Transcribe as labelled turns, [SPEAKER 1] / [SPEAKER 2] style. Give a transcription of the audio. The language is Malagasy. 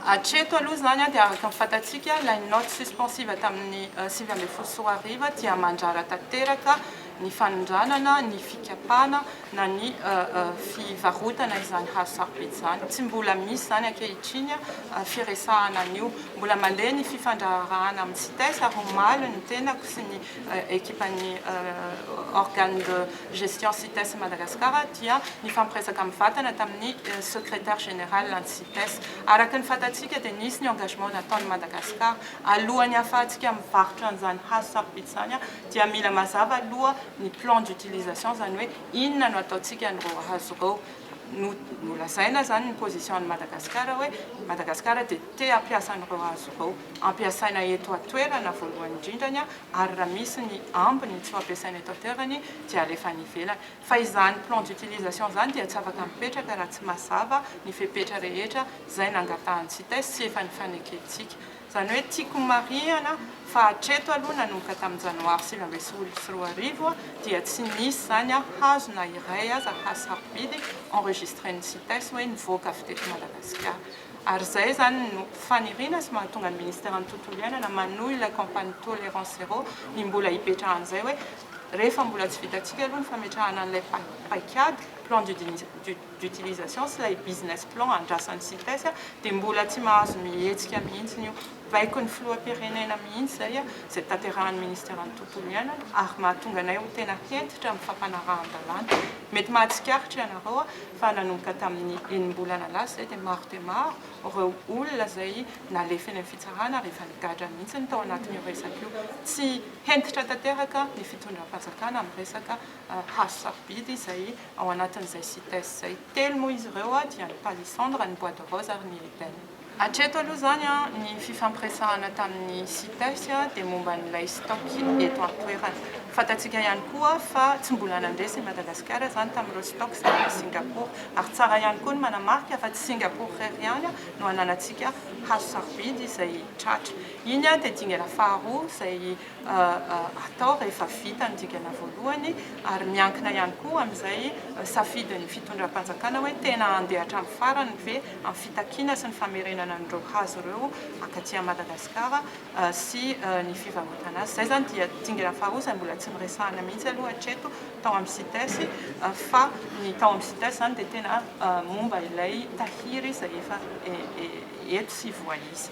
[SPEAKER 1] Hatreto aloha izany dia araka ny fantatsika ilay note suspensive tamin'ny sivy ambin'ny folo sy roa arivo dia mandrara tanteraka ny fanondranana, ny fikapana na ny fivarotana izany hazo sarobidy izany. Tsy mbola misy izany ankehitriny firesahana an'io. Mbola mandeha ny fifandraharahana amin'ny Cites ary omaly ny tenako sy ny ekipan'ny organe de gestion Cites Madagascar dia nifampiresaka mivantana tamin'ny secretaire général ny Cites. Des, araka ny fantatsika dia nisy ny engagement nataon'i Madagascar alohan'ny hahafahantsika mivarotra an'izany hazo sarobidy izany dia mila mazava aloha ny plan d'utilisation izany hoe inona no ataontsika an'ireo hazo ireo no nolazaina izany ny position an'i Madagascar hoe Madagascar dia te hampiasa an'ireo hazo ireo hampiasaina eto an-toerana voalohany indrindrany ary raha misy ny ambiny tsy ho ampiasaina eto an-toerany dia alefa any ivelany Fa izany plan d'utilisation izany dia tsy afaka mipetraka raha tsy mazava ny fepetra rehetra izay nangatahan'ny Cites sy efa nifanekentsika. Izany hoe tiako homarihana fa hatreto aloha nanomboka tamin'ny janoary sivy ambin'ny folo sy roa arivo dia tsy nisy izany hazo na iray aza hasarobidy enregistren'ny Cites hoe nivoaka avy teto Madagasikara. Ary izay izany no faniriana sy mahatonga ny Ministeran'ny Tontolo Iainana manohy ilay campagne Tolérance Zéro ny mbola hipetrahan'izay hoe Rehefa mbola tsy vitantsika aloha ny fametrahana an'ilay paikady, plan d'utilisation, sy ilay business plan andrasan'ny Cites, dia mbola tsy mahazo mihetsika mihitsy io. Baikon'ny filoham-pirenena mihitsy izay, izay tanterahan'ny minisiteran'ny tontolo iainana, ary mahatonga anay ho tena hentitra amin'ny fampanarahan-dalàna. Mety mahatsikaritra ianareo fa nanomboka tamin'ny enim-bolana lasa izay dia maro dia maro ireo olona izay nalefa eny amin'ny fitsarana ary efa nigadra mihitsy ny tao anatin'io resaka io. Tsy. Hentitra tanteraka ny fitondram-panjakana amin'ny resaka hazo sarobidy izay ao anatin'izay Cites izay. Telo moa izy ireo dia ny palissandre, ny bois de rose ary ny ebène. Hatreto aloha izany ny fifampiresahana tamin'ny Cites dia momba an'ilay stock eto an-toerana. Fantatsika ihany koa fa tsy mbola nandeha sy Madagasikara izany tamin'ireo stock izay any Singapour. Ary tsara ihany koa ny manamarika fa tsy Singapour irery ihany no ananantsika hazo sarobidy izay tratra. Iny dia dingana faharoa izay atao rehefa vita ny dingana voalohany ary miankina ihany koa amin'izay safidin'ny fitondram-panjakana hoe tena handeha hatramin'ny farany ve amin'ny fitakiana sy ny famerenana an'ireo hazo ireo akaty Madagasikara sy ny fivarotana azy. Izay izany dia dingana faharoa izay mbola tsy noresahina mihitsy aloha hatreto tao amin'ny Cites fa ny tao amin'ny Cites izany dia tena momba ilay tahiry izay efa eto sy voaisa.